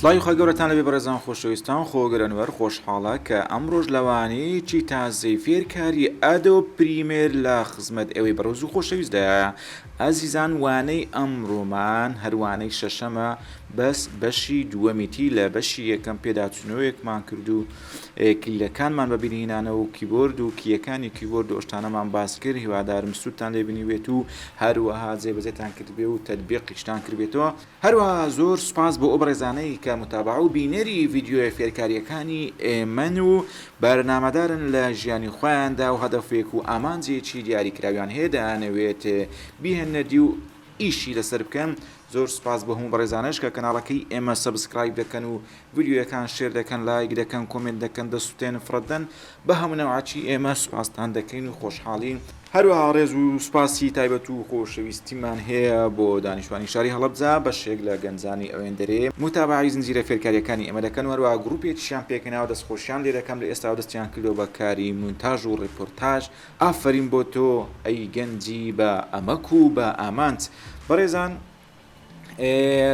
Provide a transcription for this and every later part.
سڵاوی خی گەورەتان لەبێ بەڕێزان خۆشەویستان خۆگەرەنوەر خۆشحاڵە کە ئەم ڕۆژ لەوانەیەکی تازەی فێرکاری ئەدە و پریمێر لە خزمەت ئەوەی بەڕۆز و خۆشەویستدایە ئازیزان وانەی ئەم ڕۆمان هەروانەی شەشەمە بەس بەشی دووەمیتی لە بەشی یەکەم پێداچوونەوەیەکمان کردو کلیلەکانمان بە بیرهینانەوە و کیبۆرد و کییەکانی کیبۆرد و ئەو شتانەمان باس کرد هیوادارم سوودتان لێ بینیبێت و هەروەها جێبەجێتان کردبێ و تەتبیقیشتان کردبێتەوە هەروەها زۆر سوپاس بۆ ئەو بەڕێزانەی کە متابەعە و بینەری ڤیدیۆیە فێرکارییەکانی ئێمەن و بەرنامەدارن لە ژیانی خۆیاندا و هەدەفێک و ئامانجێکی دیاریکراویان هەیە دەیانەوێت بیهێننە دی و ئیشی لەسەر بکەن زۆر سوپاس بۆ هەموو بەڕێزانەش کە کەناڵەکەی ئێمە سەبسکرایب دەکەن و ڤیدیۆیەکان شێر دەکەن لایک دەکەن کۆمێنت دەکەن دەسوتێن فڕەدەن بە هەمونەوعەچی ئێمە سوپاستان دەکەین و خۆشحاڵین هەروەها ڕێز و سوپاسی تایبەت و خۆشەویستیمان هەیە بۆ دانیشتوانی شاری هەڵەبجە بەشێک لە گەنجانی ئەوێندەرێ موتابەعەی زنجیرە فێرکاریەکانی ئێمە دەکەن و هەروەها گروپێکیشیان پێکهێناوە دەستخۆشیان لێ دەکەم لە ئێستاوە دەستیان کردوە بە کاری مونتاژ و ڕێپۆرتاژ ئافەرین بۆ تۆ ئەی گەنجی بە ئەمەک و بە ئامانج. بەڕێزان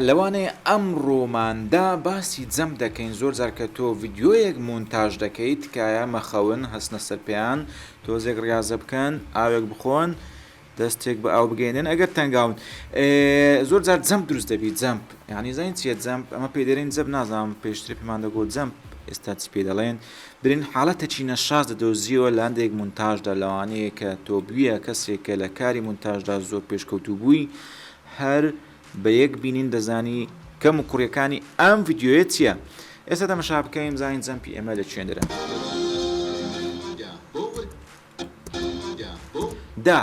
لەوانەیە ئەمڕۆماندا باسی جەم دەکەین زۆر جار کە تۆ ڤیدیۆیەک مونتاژ دەکەیت تکایە مەخەون هەستنە سەر پێیان تۆزێک ڕیازە بکەن ئاوێک بخۆن دەستێک بە ئاو بگەیەنێن ئەگەر تەنگاون زۆر جار جەمپ دروست دەبیت جەمپ یعنی زین چیە جەمپ ئەمە پێ دەێن جەب نازانم پێشتر پێمان دەگۆ جەمپ ئێستا چی پێ دەڵێن برین حالەتە چینە شاز دەدۆزیەوە لاندێک مونتاژدا لەوانەیە کە تۆ بویە کەسێک کە لە کاری مونتاژدا زۆر پێشکەوتو بووی هەر بە یەک بینین دەزانی کەم و کوڕیەکانی ئەم یددیوە چییە ئێستا دەمەشا بکەین زانین جەمپی ئێمە لە چێندرە. دا،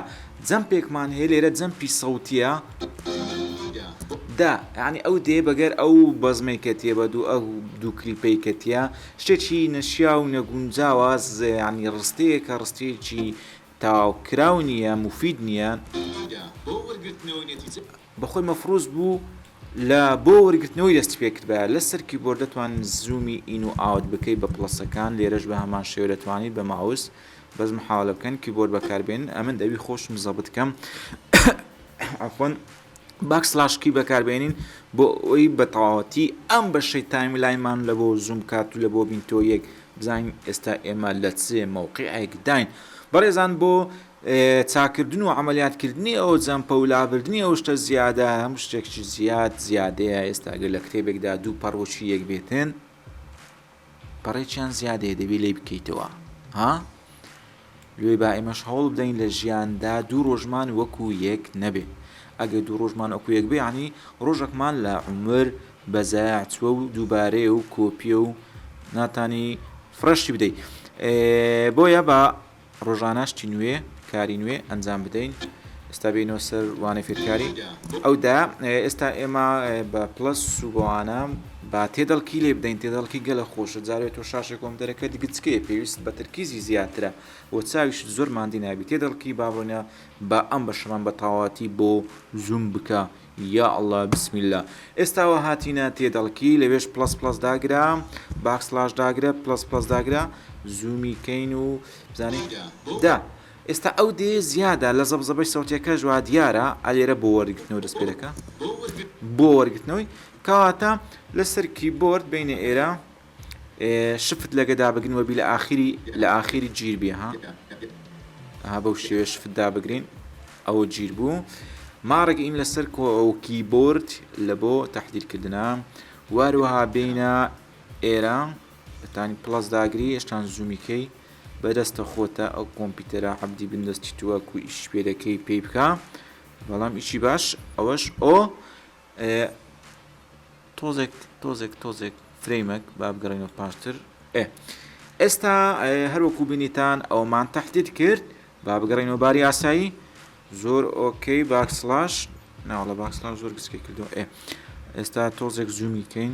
جەمپێکمان هەیە لێرە جەمپی سەوتیە. دا، یانی ئەو دێ بەگەر ئەو بەزمەی کە تێ بە دوو ئەو دوو کلیپەی کە تیا شتێکی نەشیا و نەگونجاوە زێیانی ڕستەیە کە ڕستەیەکی تاوکراو نییە مفید نییە. بەخۆی مەفروز بوو لە بۆ وەرگرتنەوەی دەستی پێ کردایە لە سەر کیبۆرد دەتوان زوومی ئین و ئاوت بکەی بە پڵەسەکان لێرەش بە هەمان شێوە دەتوانیت بە ماوس بەس محاوەلە بکەن کیبۆرد بەکاربێنن ئەمن دەبی خۆشم زەبت کەم عەفوەن باک سلاش کی بەکاربێنین بۆ ئەوی بە تەواوەتی ئەم بەشەی تایم لایمان لە بۆ زووم بکات و لە بۆ بین تۆ یەک بزانین ئێستا ئێمە لە چێ مەوقعێکداین بەڕێزان بۆ چاکردن و عەمەلیاتکردنی ئەو جەمپە و لابردنی ئەو شتە زیادە، هەموو شتێکیش زیاد زیادەیە، ئێستا گەر لە کتێبێکدا دوو پەڕ وەکی یەک بێتن، پەڕێکیان زیادەیە دەبێ لێی بکەیتەوە ها؟ لێ با ئێمەش هەوڵ بدەین لە ژیاندا دوو ڕۆژمان وەکو یەک نەبێ ئەگەر دوو ڕۆژمان وەکو یەک بێ عنی ڕۆژێکمان لە عمر بەزایع چوە و دووبارەیە و کۆپیە و ناتانی فرەشی بدەیت بۆیە بە ڕۆژانە شتی نوێ، کاری نوێ ئەنجام بدەین. ئێستا بێینەوە سەر وانەی فێرکاری ئەو دا. ئێستا ئێمە بە پڵەس و بەوانە با تێدەڵکی لێ بدەین، تێدەڵکی گەلە خۆشە. جارێ تۆ شاشێک وەم دەرەکە دیگە چ کەیە؟ پێویست بە تەرکیزی زیاترە و چاویشت زۆر ماندی نابی. تێدەڵکی با بڕۆینە با ئەم بەشەمان بە تەواوەتی بۆ زووم بکە. یا اللە بسم اللە ئێستاوە هاتینە تێدەڵکی لەوێش پڵەس پڵەس داگرە باک سڵاش داگرە پڵەس پڵەس داگرە زوومی کەین و بزانین دا ئێستا ئەو دێ زیادە لە زەبزەبەی سەوتەکەش وا دیارە ئالێرە بۆ وەرگرتنەوە دەست پێەکە بۆ وەرگرتنەوەی کەواتە لەسەر کیبۆرد بینە ئێرە شفت لە گەدا بگن وەبی لە ئاخیری لە ئاخیری گیر بێ ها ها بەو شێوێ شفت دابگرین ئەوە گیر بوو ماڕێک ئیم لەسەر کۆکی بۆرد لە بۆ تهدیرکردە واروەها بینە ئێرە بەتانی پلس داگری هێشتان زومیکەی بەدەستە خۆتە ئەو کۆمپیوتەرە عبدی بندەستی تووە کو ئیش پێ دەکەی پێی بکە بەڵام ئیشی باش ئەوەش ئۆ ئێ تۆزێک تۆزێک تۆزێک فرەیمەک با بگەڕێنەوە پاشتر ئێ ئێستا هەروەکو بینیتان ئەومان تهدید کرد با بگەڕێنەوە باری ئاسایی زۆر ئۆکەی باکسلاش ناوەڵە باکسلاش زۆر گسکی کردو ئێ ئێستا تۆزێک زوومی کەین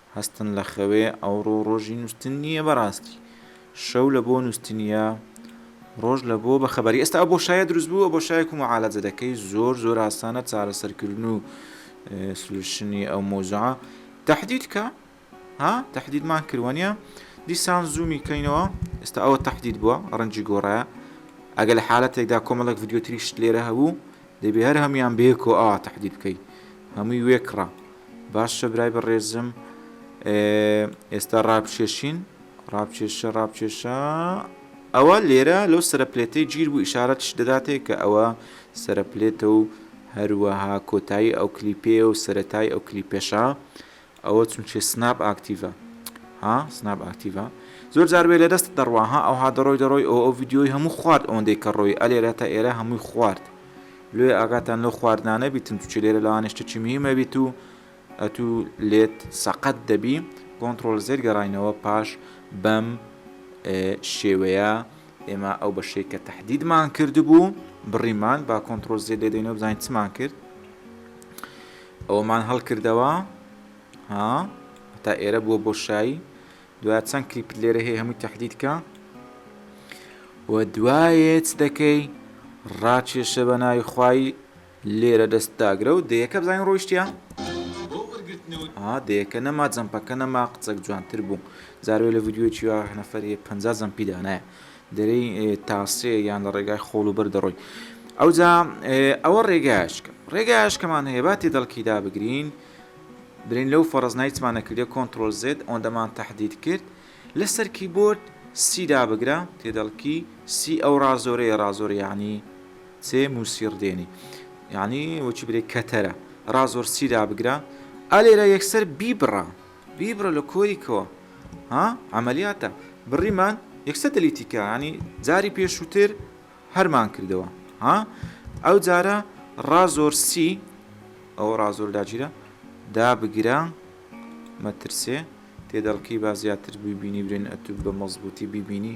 هەستن لە خەوێ ئەوڕۆ ڕۆژی نووستن نییە بەڕاستی شەو لە بۆ نووستنیە ڕۆژ لە بۆ بە خەبەری ئێستا بۆ شایە دروست بووە بۆ شایەک و معالەجە دەکەی زۆر زۆر ئاسانە چارەسەرکردن و سلوشنی ئەو مۆزع تهدید کە ها تهدیدمان کردوانە دیسان زوومی کەینەوە ئێستا ئەوە تهدید بووە ڕەنجی گۆڕایە ئەگە لە حالەتێکدا کۆمەڵک یددیوتریشت لێرە هەبوو دەبێ هەر هەموویان بەیەکەوە ئاوا تەحدید بکەی هەمووی وێ کڕە باشە برای بەڕێزم ئێستا ڕابچێشین ڕابچێشە ڕابچێشە ئەوە لێرە لەو سەرپلێتەی گیر بوو ئشارەتش دەداتێ کە ئەوە سەرپلێتە و هەروەها کۆتایی ئەو کلیپێ و سەتای ئەو کلیپێشە ئەوە چونچێ سناپ ئاکتیڤە ها سناپ ئاکتیڤە زۆر جار وێ لە دەستت دەڕوا ها ئەوها دەڕۆی دەڕۆی ئەو ئەو ڤیدیۆی هەموو خوارد ئەوەندەی کە ڕۆی ئەلێرە تا ئێرە هەمووی خوارد لێ ئاگاتان لەو خواردنانە بیتن توچێ لێرە لەوانە شتێکی مهمە بیت و ئەتوو لێت سەقەت دەبی کۆنتترۆل زێر گەڕینەوە پاش بەم شێوەیە ئێمە ئەو بەشەی کە تهدیدمان کردبوو بڕیمان با کۆنتترۆل زێ لێدەینەوە بزانین چمان کرد ئەوەمان هەڵکردەوە ها هەتا ئێرە بووە بۆشایی دوای چەند کلیپت لێرە هەیە هەمووی تهدیدکە و دوایێت دەکەی ڕاکێشە بە ناوی خوای لێرە دەست داگرە و دەیەکە بزانین ڕۆیشتە دەیەکە نەما جەمپەکە نەما قچەک جوانتر بوو زارێ لە ڤیددیوی چیوا نەفرێ پ زەمپی دانایە دەرێی تا سێ یان لە ڕێگای خۆڵ و بەر دەڕۆی ئەوجا ئەوە ڕێگاشکە ڕێگاشکەمان هەیە با تێدەڵکی دابگرین برین لەو فەرز نایتمانە کردێ کۆنتترۆل زێت ئەوەندەمان تهدید کرد لەسەر کیبۆرد سیدا بگرە تێدەڵکی سی ئەو ڕازۆرەیە ڕازۆر یعنی سێ موسیڕ دێنی یعنی وەچی برێ کەتەرە ڕازۆر سیدا بگرە ئەلێرە یەکسەر بیبڕە بیبڕە لە کۆری کەوە ها عەمەلیاتە بڕیمان یەکسە دەلیتی کە یانی جاری پێشووتر هەرمان کردەوە ها ئەو جارە ڕازۆر سی ئەو ڕازۆر داگیرە دابگرە مەترسێ تێدەڵکی با زیاتر ببینی برێن ئەتوب بە مەزبوتی ببینی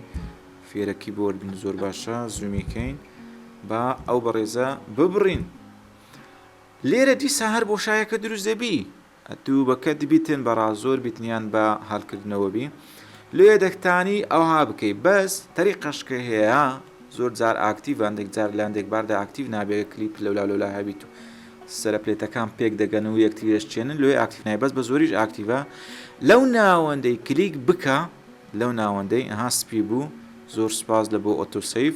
فێرەکی بۆردن زۆر باشە زومیکەین با ئەو بەڕێزە ببڕین لێرە دیسا هەر بۆشایەکە دروست دەبی ئەتوو بە کە دبی تن بە ڕا زۆر بی تنیان بە هەل کردنەوە بی لێ دەک تانی ئەوها بکەی بەس تەری قەش کە هێە زۆر جار ئاکتیڤ ان دەک جار لان دەک بار دە ئاکتیڤ نابێ گە کلیپ لەولا لەولا هەبی تو سەرە پلێتە کان پێک دە گەن و یەک تری دەش چێنن لۆیێ ئاکتیڤ نای بەس بە زۆریش ئاکتیڤە لەو ناوەندەی کلیک بکە لەو ناوەندەی ئەها سپی بوو زۆر سپاس لە بۆ ئۆتۆ سەیڤ.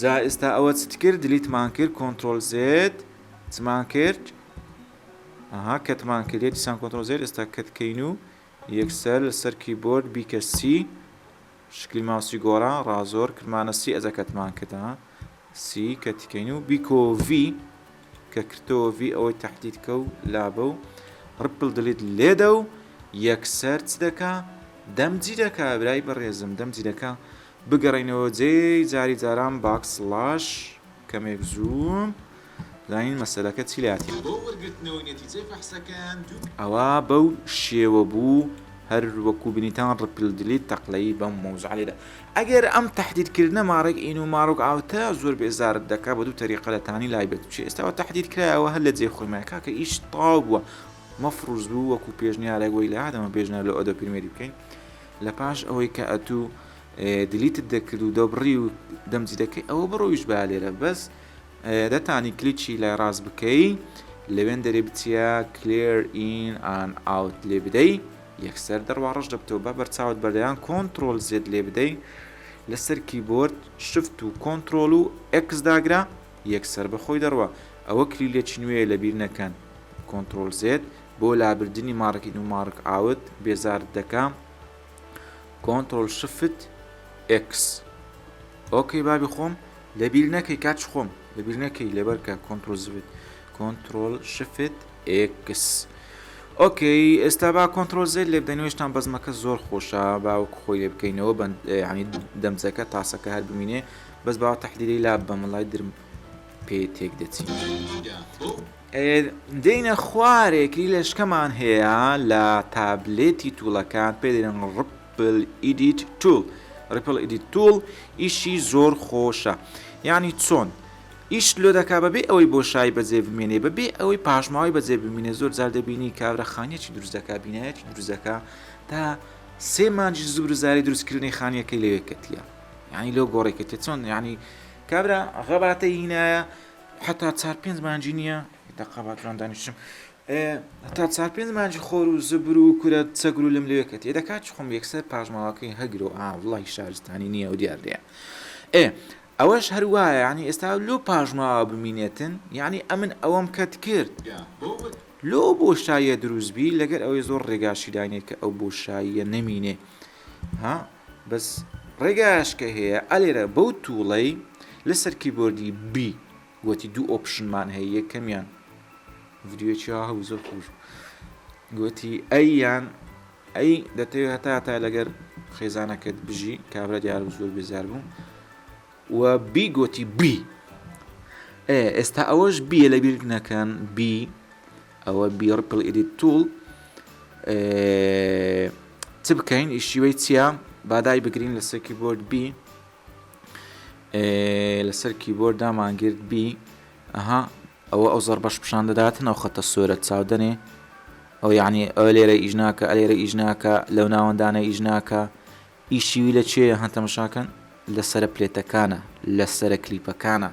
جا ئیستا ئەوە چت کرد دلیتمان کرد کۆنترۆل زێد چمان کرد ئەها کەتمان کرد دیسان کۆنترۆل زێد ئێستا کەت کەین و یەکسەر لەسەر کیبۆرد بیکە سی شکلی ماوسی گۆڕا ڕازۆر کردمانە سی ئەجا کەتمان کردە سی کەتیکەین و بیکۆ وی کە کردەوە وی ئەوەی تهدید کە و لابە و ڕپل دلیت لێدە و یەکسەر چ دەکا دەمجی دەکا برای بەڕێزم دەمجی دەکا بگەڕێینەوە جێی جاری جاران باک سڵاش کەمێک زوو بزانین مەسەلەکە چی لاتیە. بۆ وەرگرتنەوەی نەتیجەی فەحسەکەیان دوو. ئەوە بەو شێوە بوو هەر وەکو بینیتان ڕپل دلیت تەقلەیی بەم مەوزوعە لێدا ئەگەر ئەم تەحدید کردنە ماڕێک ئین و ماڕک ئاوتە زۆر بێزارت دەکا بە دوو تەریقە لە تانی لای بێت چی ئێستاوە تەحدید کرا ئەوە هەر لە جێ خۆی مایە کاکە ئیش تاو بووە مەفڕوز بوو وەکو پێشنیارێک وەی لە هاتەمە پێشنیار لە ئۆدۆ پرمیەری بکەین لەپاش ئەوەی کە ئەتو دیلیتت دەکرد و دەبڕی و دەمجی دەکەی ئەوە بڕۆیش با لێرە بەس دەتانی کلیکی لای ڕاست بکەی لەوێن دەرێ بچیە کلێر ئین ئان ئاوت لێ بدەی یەکسەر دەڕوا ڕەش دەبتەوە بە بەرچاوت بەردەیان کۆنتترۆل زێت لێ بدەی لەسەر کیبۆرد شفت و کۆنتترۆل و ئەکس داگرا یەکسەر بەخۆی دەڕوە ئەوە کلیلێکی نوێ لەبیر نەکەن کۆنتترۆل زێت بۆ لابردنی مارک ان و مارک ئاوت بێزارت دەکا کۆنترۆل شفت ئێکس ئۆکەی بابی خۆم لە بیر نەکەی کاچ خۆم لە بیر نەکەی لەبەرکە کۆنترۆل زبت کۆنترۆل شفت ئێکس ئۆکەی ئێستا با کۆنتترۆل زێ لێ بدەنوێشتان بەزمەکە زۆر خۆشە باوەک خۆی لێ بکەینەوە بەند ینی دەمزەکە تاسەکە هەر بمینێ بەس باوە تەحلیلی لا بەمەڵای درم پێ تێک دەچین. دێینە خوارێک لیلەشکەمان هەیە لە تابلێتی توڵەکان پێ دەێن ڕپل ئیدیت توول ڕپل ئیدیت توول ئیشی زۆر خۆشە یعنی چۆن ئیش لۆ دەکا بەبێ ئەوەی بۆ شای بەجێ بمێنێ بەبێ ئەوەی پاشماوەی بەجێ بمینێ زۆر جار دەبینی کابرا خانیەکی دروستەکە بینایەتی دروستەکە تا سێ مانجی زور زاری دروستکردنی خانیەکەی لەوێ کەتیە یعنی لۆ گۆڕێکەتە چۆن یعنی کابرا غەباتە هینایە هەتا چار پێنج مانجی نییە، دەقە با جوان دانیشم، هەتا چار پێنج مانجی خۆر و زبر و کورە چەگر و لم لەوێ کەت ئێ دەکات چخۆم یەکسەر پاژماوەکەی هەگرۆ ئا وڵی شارستانی نییە و دیاردەیە ئێ ئەوەش هەر وایە یعنی ئێستا لۆ پاژماوە بمینێتن یعنی ئەمن ئەوەم کەت کرد لۆ بۆ شایە دروستبی لەگەر ئەوەی زۆر ڕێگاشی داینێت کە ئەو بۆ شاییە نەمینێ ها بەس ڕێگایش کە هەیە ئەلێرە بەو توڵەی لەسەر کیبۆردی B گۆتی دوو ئۆپشنمان هەیە یەکەمیان ڤیدیۆکی ها هەبوو زۆر خۆش گۆتی ئەیان ئەی دەتەوێت هەتا هەتا لەگەر خێزانەکەت بژی کابرا دیار زۆر بێزار بوو و بی گۆتی بی ئێ ئێستا ئەوەش بیە لە بیرت نەکەن بی ئەوە بی ڕپل ئیدیت توڵ چ بکەین ئیشیوەی چییە بادای بگرین لەسەر کیبۆرد بی لەسەر کیبۆرد دامانگررت بی ئەها ئەوە ئەو زەربەش پیشان دەدات نەو خەتە سۆرە چاودنێ ئەو یعنی ئەو لێرە ئیژناکە ئەلێرە ئیژناکە لەو ناوەندانە ئیژناکە ئی شیوی لە کوێیە ها تەمەشا کەن لە سەرە پلێتەکانە لە سەرە کلیپەکانە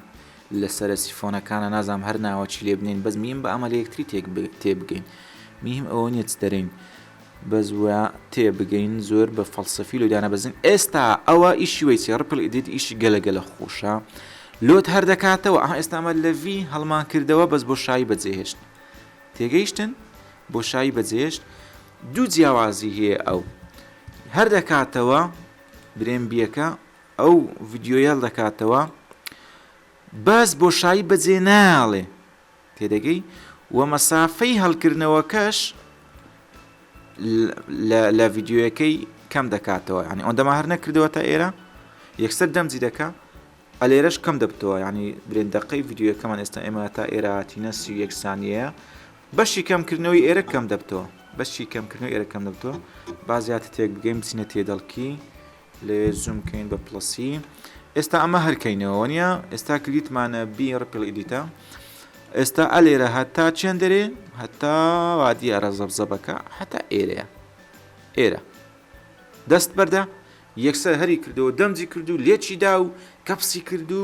لە سەرە سیفۆنەکانە نازانم هەر ناوەکی لێ بنێین بەس میم بە ئەمە لە یەکتری تێک تێ بگەین میم ئەوە نیە چ دەرێین بەس وە تێ بگەین زۆر بە فەلسەفی لۆ دانەبەزین ئێستا ئەوە ئی شیوەی چێ ڕپل ئیدیت ئیشی گەلە گەلە خۆشە لۆت هەر دەکاتەوە ئەها ئێستامە لە ڤی هەڵمان کردەوە بەس بۆ شایی بەجێهێشت تێگەیشتن بۆ شایی بەجێهێشت دوو جیاوازی هەیە ئەو هەر دەکاتەوە برێم بیەکە ئەو ڤیددیۆیەل دەکاتەوە باس بۆشایی بەجێ ناڵێ تێدەگەی و مەسافەی هەڵکردنەوەکەش لە ڤیددیوەکەی کەم دەکاتەوە ینی ئەوەندەما هەر نەکردەوە تا ئێرە یەکسەر دەمجی دەکە ئەلێرەش کەم دەبتەوە ینی برێندەقەی ڤیددیوەکەمان ئێستا ئێمە تا ئێراتینە سی یەکسانیە بەشی کەم کردنەوەی ئێرەک کەم دەبتەوە بەشی کەم کردنەوەی ئێرەک کەم دەبتەوە با زیاتر تێک بگەین بچینە تێدەڵکی لەوێ زوم کەین بە پڵسی ئێستا ئەمە هەرکەینەوە نیە ئێستا کلیتمانە بی ڕپل ئیدیتە ئێستا ئەلێرە هەتا چێن دەرێ هەتا وادیە ئەرە زەبزەبەکە هەتا ئێرەیە ئێرە دەست بەردە یەکسەر هەری کردەوە دەمجی کردو لێچی دا و کەپسی کردو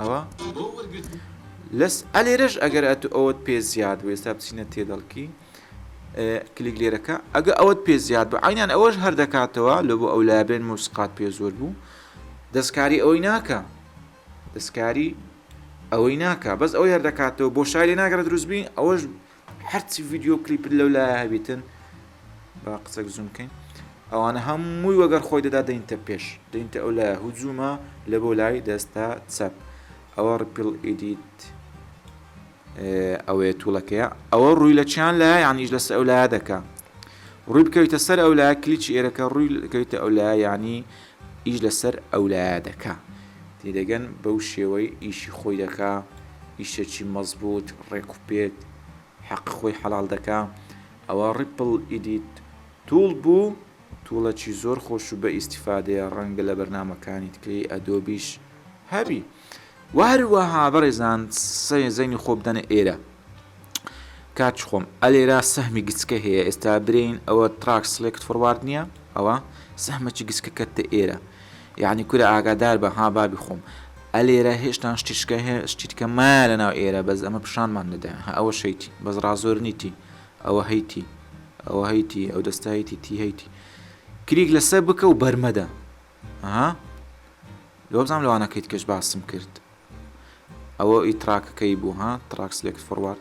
ئەوە لەس ئەلێرەش ئەگەر ئەتو ئەوەت پێ زیاد بوو ئێستا بچینە تێدەڵکی کلیک لێرەکە ئەگە ئەوەت پێ زیاد بوو عینان ئەوەش هەر دەکاتەوە لە بۆ ئەو لابێن موسقات پێ زۆر بوو دەستکاری ئەوەی ناکە دەستکاری ئەوەی ناکە بەس ئەو یاردەکاتەوە بۆ شاری ناگەڕ دروستبی ئەوەش هەرچی ڤیددیو کلیپت لەو لایە هەبیتن با قسەک زوم بکەین ئەوانە هەمووی وەگەر خۆی دەدا دەینتە پێش دەینتە ئەو لایە هجوومە لە بۆ لای دەستە چەپ ئەوە ڕپیل ئیدیت ئەوەیە توڵەکەیە ئەوە ڕووی لە چیان لە یانیش لەسەر ئەو لایە دەکە ڕووی بکەویتە سەر ئەو لایە کلیچی ئێرەکە ڕووی کەویتە ئەو لایە ینی ئیش لەسەر ئەولایە دەکا تێدەگەن بەو شێوەی ئیشی خۆی دەکا ئیشەکی مەزبوت ڕێک و پێک حەقی خۆی حەڵاڵ دەکا ئەوە ڕیپڵ ئیدیت توڵ بوو توڵەکی زۆر خۆش و بە ئیستیفادەیە ڕەنگە لە بەرنامەکانیتکەی ئەدۆبیش هەبی. وە هەروەها بەڕێزان سەرێ زەینی خۆ بدەنە ئێرە کاچ خۆم ئەلێرا سەهمی گچکە هەیە ئێستا برین ئەوە تراک سلێکت فڕوارد نییە ئەوە سەهمەچی گچکە کەتە ئێرە یعنی کورە ئاگادار بە ها بابی خۆم ئەلێرە هێشتان شتیشکە هەیە شتیتکە مایە لە ناو ئێرە بەس ئەمە پیشانمان دەدەن ها ئەوە شەیتی بەس ڕازۆرنیتی ئەوە هەیتی ئەوە هەیتی ئەو دەستایتی تی هەیتی کریک لەسەر بکە و بەرمەدە ئەها لۆبزانم لەوانە کەیت کەش باسم کرد ئەوە ئی تراکەکەی بوو ها تراک سلێکت فۆڕوارد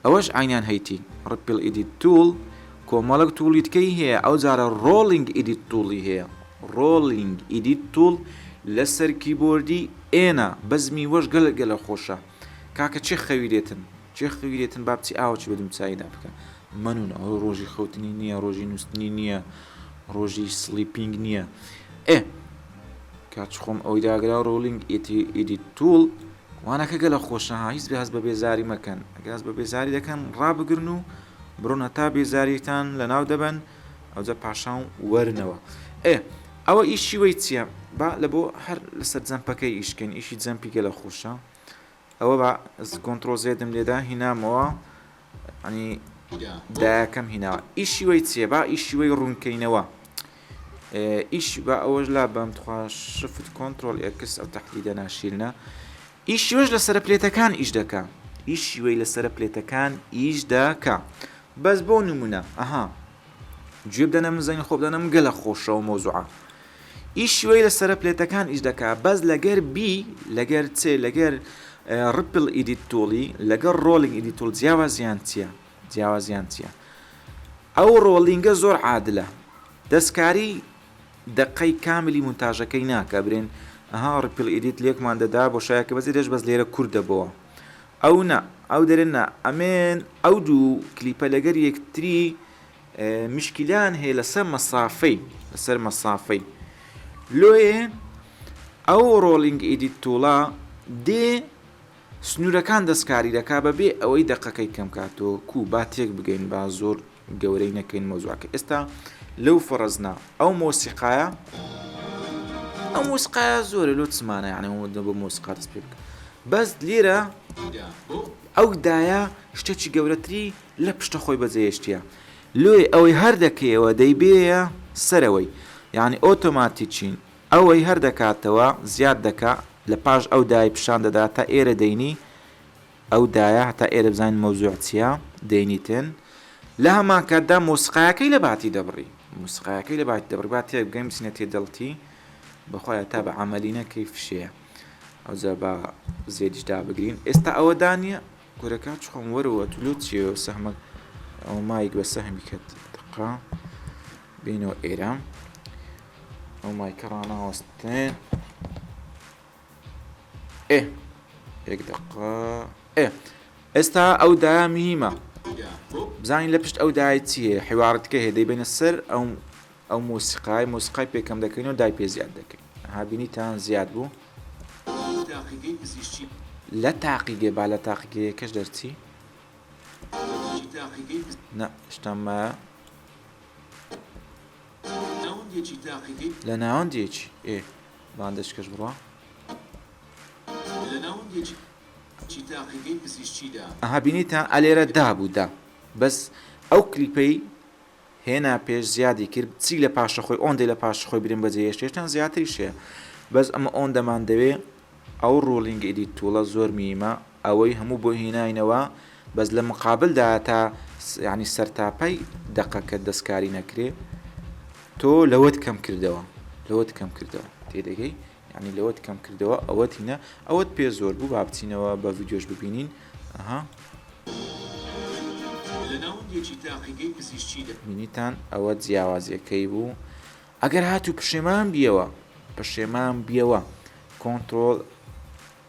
ئەوەش عینیان هەیتی ڕپل ئیدی توول کۆمەڵک توڵیتکەی هەیە ئەو جارە ڕۆڵینگ ئیدی توڵی هەیە ڕۆڵینگ ئیدی توڵ لەسەر کیبۆردی ئێنە بەزمی وەش گەلگەلە خۆشە کاکە چێ خەوی لێتن چێ خەوی لێتن با بچی ئاوەکی بە دمچاییدا بکە مەنون ئەوە ڕۆژی خەوتنی نییە ڕۆژی نووسنی نییە ڕۆژی سلیپینگ نییە ئێ کاچ خۆم ئەوی داگرا ڕۆلینگ ئیدی توول وانەکە گەلە خۆشە هیچ بەهز بە بێزاری مەکەن گاز بە بێزاری دەکەن ڕابگرن و بڕۆنە تا بێزاریتان لە ناو دەبن ئەوجا پاشان وەرنەوە. ئێ ئەوە ئیشی وەی چیە با لە بۆ هەر لەسەر جەمپەکەی ئیش کەین ئیشی جەمپی گەلە خۆشە ئەوە با کۆنتڕۆ زێدم لێدا هینامەوە ئەنی دایەکەم هیناوە ئیشی وەی چیە با ئیشی وەی ڕوونکەینەوە ئیش با ئەوەش لا بەم تخوا شفت کۆنتترۆل ئێکس ئەو تهدیدە ناشیرنە ئیشیوەش لەسەر پلێتەکان ئیش دەکە ئیشی وەی لەسەر پلێتەکان ئیش دەکە بەس بۆ نمونە ئەها گوێ بدەنە من زەنگی خۆ بدەنم گەلە خۆشەوە مۆزوعە ئیشی وەی لە سرە پلێتەکان ئیش دەکا بەس لەگەر بی لەگەر چێ لەگەر ڕپل ئیدیت تۆڵی لەگەر ڕۆلینگ ئیدی تۆڵ جیاوازیان چییە جیاوازیان چییە ئەو ڕۆلینگە زۆر عادلە دەستکاری دقەی کاملی منتاژەکەی ناکە برێن ئەها ڕپل ئیدیت لێکمان دەدا بۆ شایەکە بەزی دەش بەس لێرە کوردەبەوە ئەو نا ئەو دەرێ نا ئەمێن ئەو دوو کلیپە لەگەر یەکتری مشکلیان هەیە لەسەر مەسافەی لەسەر مەسافەی لۆیێ ئەو ڕۆڵینگ ئیدیت توڵە دێ سنوورەکان دەستکاری دەکا بەبێ ئەوەی دەقەکەی کەم کاتۆ کو با تێک بگەین با زۆر گەورەی نەکەین مەوزوعەکە ئێستا لەو فەڕزنا ئەو مۆسیقایە ئەو مۆسیقایە زۆرە لۆ چمانە یانە وەدە بۆ مۆسیقا دەست پێ بکە بەس لێرە ئەو دایە شتێکی گەورەتری لە پشتە خۆی بەجێهێشتە لۆی ئەوەی هەر دەکەیەوە دەیبێە سەرەوەی یعنی ئۆتۆماتیچین ئەوەی هەر دەکاتەوە زیاد دەکا لە پاش ئەو دای پیشان دەدا تا ئێرە دەینی ئەو دایە هەتا ئێرە بزانین مەوزوع چیە دەینیتن لە هەمان کاتدا مۆسیقایەکەی لە باتی دەبڕی مۆسیقایەکەی لە باتی دەبڕی با تێک بگەین بچینە تێ دڵتی بەخوای هەتا بە عەمەلی نەکەی فشەیە ئەوجا با زێدیش دابگرین ئێستا ئەوە دانیە کورەکە چ خۆم وەرەوە تو لۆ چیە سەهمە ئەو مایک بە سەهمی کرد دقا بینەوە ئێرە ئەو مایکە ڕاناوەستێ ئێ یەک دەقە ئێ ئێستا ئەو دایە میهیمە بزانین لە پشت ئەو دای چی هەیە حیواڕتکە هەیە دەیبێنە سەر ئەو ئەو مۆسیقای مۆسیقای پێکەم دەکەین و دای پێ زیاد دەکەین هابینیتان زیاد بوو لە تاقیگە با لە تاقیگەیەکەش دەرچی شتەمە لە ناوەندێکی ئێ باندەش کەش بڕا. ئەها بینیتە ئەلێرە دا بوو دا بەس ئەو کلیپەی هێنا پێش زیادی کرد چی لە پاشە خۆی ئۆندەی لە پاش خۆی برم بەجێ هێشتێشتان زیاتری شێ بەس ئەمە ئۆندەمان دەوێ ئەو ڕۆڵینگ ئیدی تووڵە زۆر میمە ئەوەی هەموو بۆ هیناینەوە بەس لە مقابل دا تا یعنی سەرتاپای دەقەکە دەستکاری نەکرێ تۆ لەوەت کەم کردەوە لەوەت کەم کردەوە تێدەگەی یعنی لەوەت کەم کردەوە ئەوەت هینە ئەوەت پێ زۆر بوو با بچینەوە بە ڤیددیۆش ببینین ئەها مینیتان ئەوە جیاوازیەکەی بوو ئەگەر هاتوو پشێمان بیەوە پشێمان بیەوە کۆنتترۆل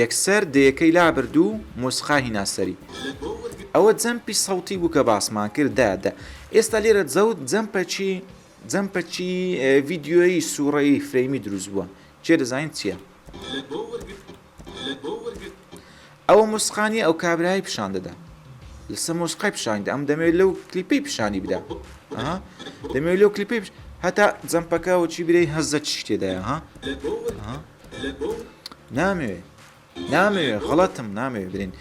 یەکسەر دەیەکەی لابرد و مۆسیقا هینا سەری. ئەوە جەمپی سەوتی بوو کە باسمان کرد. دە دە. ئێستا لێرە جەوت جەمپەکی جەمپەکی ڤیدیۆیی سووڕەیی فرەیمی دروست بووە. کێ دەزانێت چییە؟ ئەوە مۆسیقا نییە ئەو کابرایەی پیشان دەدا. لەسەر مۆسیقای پیشانی دا. ئەم دەمەوێت لەو کلیپەی پیشانی بدا. ئەها. دەمەوێت لەو کلیپەی پیش هەتا جەمپەکە و چی برێی هەزە چی تێدایە ها. ئەها. نامەوێ نامەوێ غڵەتم نامەوێ برین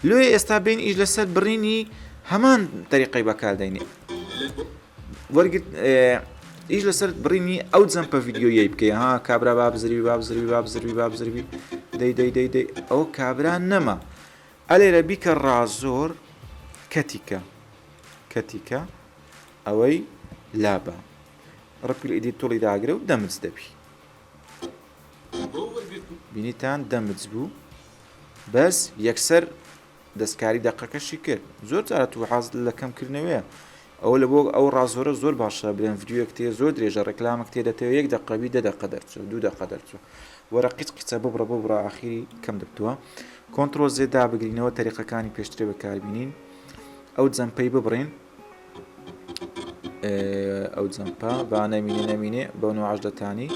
لۆی ئێستا بین ئیش لەسەر بڕینی هەمان تەریقی بەکاردەینێ وەرگرت ئیش لەسەر بڕینی ئەو جەمپە یددیویی بکەی ها کابرا با بزربی با بزربی با بزربی با بزربی دەی دەی دەی دەی ئەو کابرا نەما ئەلێرە بیکە ڕازۆر کەتیکە کەتیکە ئەوەی لابە ڕپیل ئیدی توڵی داگرە و دەمرز دەبی بینیتان دەمج بوو بەس یەکسەر دەستکاری دەقەکەشی کرد زۆر جارە تو حاز لە کەمکردنەوەیە ئەوە لە بۆ ئەو ڕازۆرە زۆر باشە بلێن ڤیددیوەک تێ زۆر درێژە ڕێکلامەک تێ دەتەوە یەک دەقەبی دە دەقە دەرچوە دوو دەقە دەرچوە وەرە قیت قیچە ببڕە بۆ بڕە ئاخیری کەم دەبتووە کۆنتترۆل زێدا بگرینەوە تەریقەکانی پێشترێ بەکاربیین ئەو جەمپەی ببڕین ئەو جەمپە با نەمینێ نەمینێ بەو نوعش دەتانی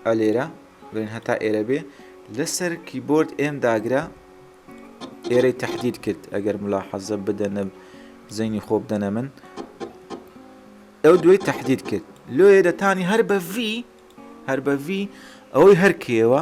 ئەلێرە بڵێن هەتا ئێرە بێ لەسەر کیبۆرد ئێم داگرە ئێرەی تهدید کرد ئەگەر ملا حەزە بدەنە زەینی خۆ بدەنە من ئەو دوێ تهدید کرد لۆیە دەتانی هەر بە ڤی هەر بە ڤی ئەوەی هەرکێوە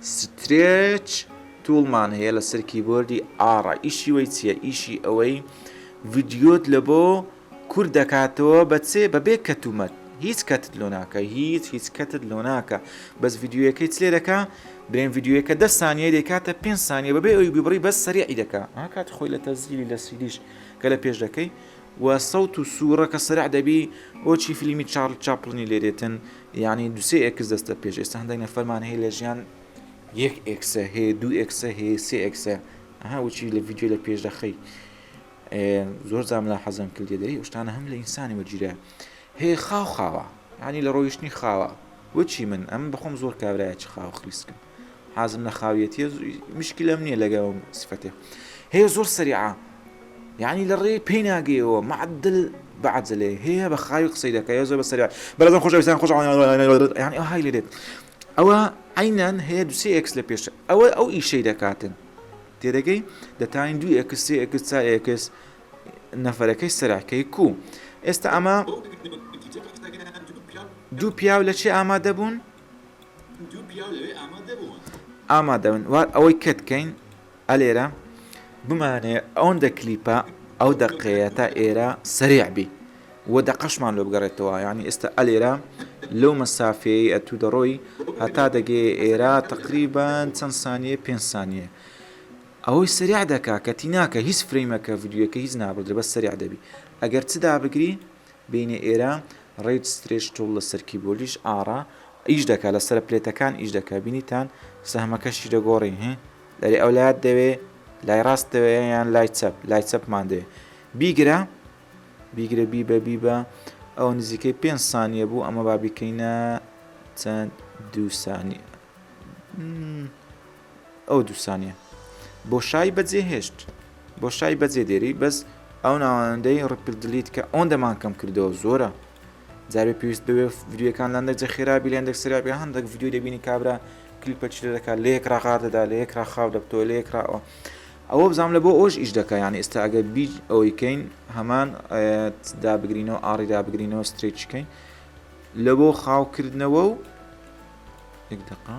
سترێچ تول مان هەیە لەسەر کیبۆردی ئاڕ ئیشی وەی چیە ئیشی ئەوەی ڤیدیۆت لە بۆ کورت دەکاتەوە بە چێ بە بێ کەت و مەت هیچ کەتت لۆ ناکە هیچ هیچ کەتت لۆ ناکە بەس ڤیددیوەکەی چلێ دەکە برێن ڤیددیوەکە دە سانیە دەکاتە پێ سانیە بەبێ ئەوی بیبڕی بەس سەریعی دەکە ئاکات خۆی لە تەزیلی لە سیدیش کە لە پێش دەکەی و سەوت و سورە کە سەرع دەبی بۆچی فلیمی چارل چاپلنی لێ دێتن یانی دو سێ ئێکس دەستە پێش ئێستا هەندێک نەفەرمان هەیە لە ژیان یەک ئێکسە هەیە دو ئێکسە هەیە سێ ئێکسە ئەها وچی لە ڤیدیۆ لە پێش دەخەی زۆر زام لە حەزم کرد لێ دەری شتانە هەم لە ئینسانی وەرگیرە هەیە خاو خاوە ینی لە ڕۆیشتنی خاوە وچی من ئەم بخۆم زۆر کابراایە چ خاو خلیسکم حازم لە خاویەتیە مشکلم نییە لەگە ئەو سفەتێ هەیە زۆر سەریعە یعنی لە ڕێ پێی ناگەیەوە معدل بەعجلێ هەیە بە خاوی قسەی دەکە زۆر بە سەریا بەڵام خۆشەویستان خۆش یعنی ئەو های لێ دێت ئەوە عینەن هەیە دوسێ ئەکس لە پێش ئەوە ئەو ئیشەی دەکاتن تێدەگەی دەتانی دوو ئەکس سێ ئەکس چا ئەکس نەفەرەکەی سەراکەی کو ئێستا ئەمە دوو پیاو لە چێ ئامادە بوون؟ ئامادەبن وار ئەوەی کەت کەین ئەلێرە بمانەیە ئەوەندە کلیپە ئەو دەقەیە تا ئێرە سەریع بی و دەقەشمان لۆ بگەڕێتەوە یانی ئێستا ئەلێرە لەو مەسافەیە ئەتوو دەڕۆی هەتا دەگەی ئێرە تقریبان چەند سانیە پێنج سانیە ئەوەی سەریع دەکا کەتی ناکە هیچ فرەیمەکە ڤیددیوەکە هیچ نابدرێ بە سەریع دەبی ئەگەر چدا بگری بینی ئێرە ڕیج سترێچ تول لەسەر کیبۆردیش ئاڕا ئیش دەکا لەسەر پلێتەکان ئیش دەکا بینیتان سەهمەکەشی دەگۆڕین هی لەری ئەو لایت دەوێ لای ڕاست دەوێ یان لای چەپ لای چەپمان دەوێ بیگرە بیگرە بی بە بی بە ئەو نزیکەی پێ سانیە بوو ئەمە با بیکەینە چەند دوو سانیە ئەو دوو سانیە بۆشای بەجێ هێشت بۆشای بەجێ دێری بەس ئەو ناوەندەی ڕپل دلیت کە ئەوەن دەمان کەم کردەوە زۆرە جارێ پێویست بوێ ڤیددیوەکان لاندەک جە خێرابی لەندێک سرابێ هەندێک ڤیددیو دەبینی کابرا کلیپە چی دەکات لە یەک ڕاغار دەدا لە یەک ڕاخاو دەبتەوە لە یەک ڕاوە ئەوە بزانام لە بۆ ئەوش ئیش دەکە یان ئێستا ئەگەر بی ئەوەی کەین هەمان دابگرینەوە ئاڕی دابگرینەوە ستریچکەین لە بۆ خاوکردنەوە و دقا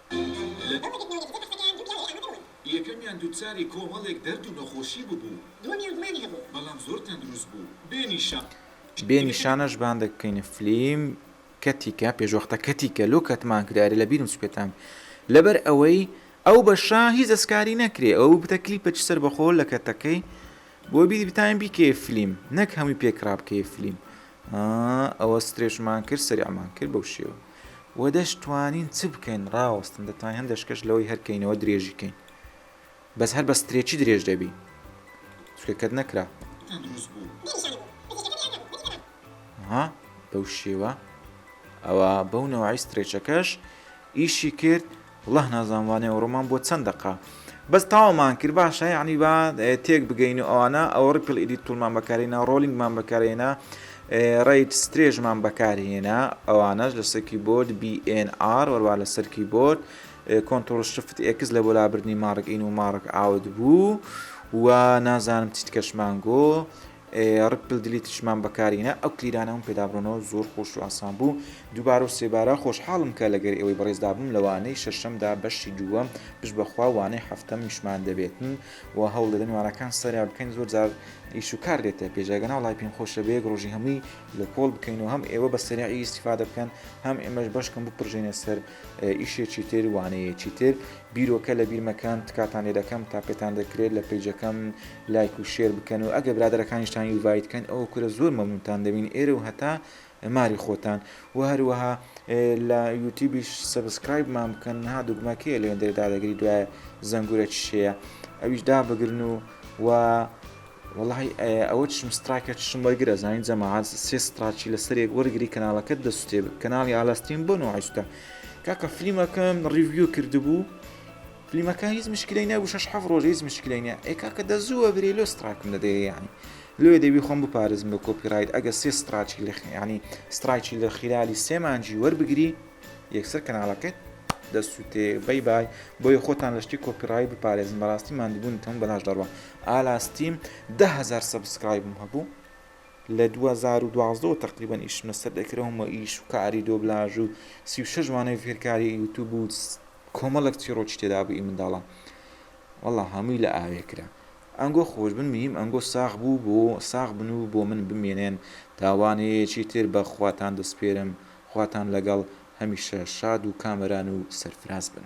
لە دوو مانگی پێشوودا قەستەکەیان دوو پیاوی ئامادە بوون. یەکەمیان دووچاری کۆمەڵێک دەرد و نەخۆشی ببوو. دووەمیان گومانی هەبوو. بەڵام زۆر تەندروست بوو. بێ نیشان. بێ نیشانەش بان دەکەینە فلیم کەتیکە پێشوەختە کەتیکە لۆ کەتمان کرایرە لە بیرم چوو پێتان لەبەر ئەوەی ئەو بەشە هیچ دەسکاری نەکرێ ئەوە ببتە کلیپەکی سەربەخۆ لە کەتەکەی بۆ بی بتاین بیکەیە فلیم نەک هەمووی پێکرا بکەیە فلیم ئا ئەوە سترێچمان کرد سەریعمان کرد بەو شێوە. وە دەش توانین چ بکەین ڕاوەستن دەتوانین هەندە شکەش لەوەی هەر کەینەوە درێژی کەین بەس هەر بە سترێچی درێژ دەبی چکە کەت نەکرا ها بەو شێوە ئەوە بەو نەوەی سترێچەکەش ئیشی کرد وەڵاه نازانم وانەی ئەوڕۆمان بۆ چەند دەقە بەس تاومان کرد باشە یعنی با تێک بگەین و ئەوانە ئەوە ڕپل ئیدی تولمان بەکارێنا ڕۆلینگمان بەکارێنا ڕیت سترێژمان بەکارهێنا ئەوانەش لە سەرکی بۆرد BNR وەروا لە سەرکی بۆرد کۆنتۆل شفت ئێکس لە بۆ لابردنی ماڕک ئین و ماڕک ئاوت بوو و نازانم چیت کەشمانگۆ ڕک پل دلی ترشمان بەکاری نا ئەو کلیلانە هەموو پێدا بڕۆنەوە زۆر خۆش و ئاسان بوو دووبارە و سێبارە خۆشحاڵم کە لەگەر ئێوەی بەڕێزدا بووم لە وانەی شەشەمدا بەشی دووەم پشت بە خوا وانەی حەفتەمیشمان دەبێتن و هەوڵ دەدەین وانەکان سەریا بکەین زۆر جار ئیش و کار دێتە پێش ئەگەنا وەڵای پێم خۆشە بە یەک ڕۆژی هەمووی لە کۆڵ بکەین و هەم ئێوە بە سەریعی ئیستیفادە بکەن هەم ئێمەش بەشکم بپڕژێنە سەر ئیشێکی تر وانەیەکی تر بیرۆکە لە بیر مەکەن تکاتان لێ دەکەم تا پێتان دەکرێت لە پەیجەکەم لایک و شێر بکەن و ئەگەر برادەرەکانیشتان یوڤایت کەن ئەوە کورە زۆر مەمنونتان دەبین ئێرە و هەتا ماری خۆتان وە هەروەها لە یوتیبیش سەبسکرایبمان بکەن ها دوگمە کێ لێن دەێ دادەگری دوای زەنگورە چشەیە ئەویش دابگرن و و وڵی ئەوە چشم ستراکە چشم وەرگرە زانین جەماعات سێ ستراچی لەسەرێک وەرگری کەناڵەکەت دەسوتێ کەناڵی ئالاستین بۆ نوعیشتە کاکە فلیمەکەم ڕیڤیو کردبوو فلیمەکە هیچ مشکلەی نەبوو شەش حەفت ڕۆژ هیچ مشکلەی نیە ئەی کاکە دە زوو وەبرێ لۆ ستڕایکم دەدەیێ یانی لۆیێ دەبی خۆم بپارێزم لە کۆپی ڕایت ئەگەر سێ ستڕاکی لە یانی ستڕایکی لە خیلالی سێ مانجی وەربگری یەکسەر کەناڵەکەت دەسووتێ بەی بای بۆیە خۆتان لە شتی کۆپی ڕای بپارێزن بەڕاستی ماندووبوونتان بەلاش دەڕوا ئالا ستیم دەهەزار سەبسکرایبم هەبوو لە دوو هەزار و دوازدە وە تەقریبەن ئیشم لەسەر دەکرم و ئیش و کاری دۆبلاژ و سی و شەش مانەوەی فێرکاری یوتوب و کۆمەڵێک چیڕۆکی تێدا بوو ئی منداڵان وەڵا هەمووی لە ئاوێ کرا ئەنگۆ خۆش بن مهیم ئەنگۆ ساغ بوو بۆ ساغ بن و بۆ من بمێنێن تاوانەیەکی تر بە خواتان دەسپێرم خواتان لەگەڵ هەمیشە شاد و کامەران و سەرفراز بن.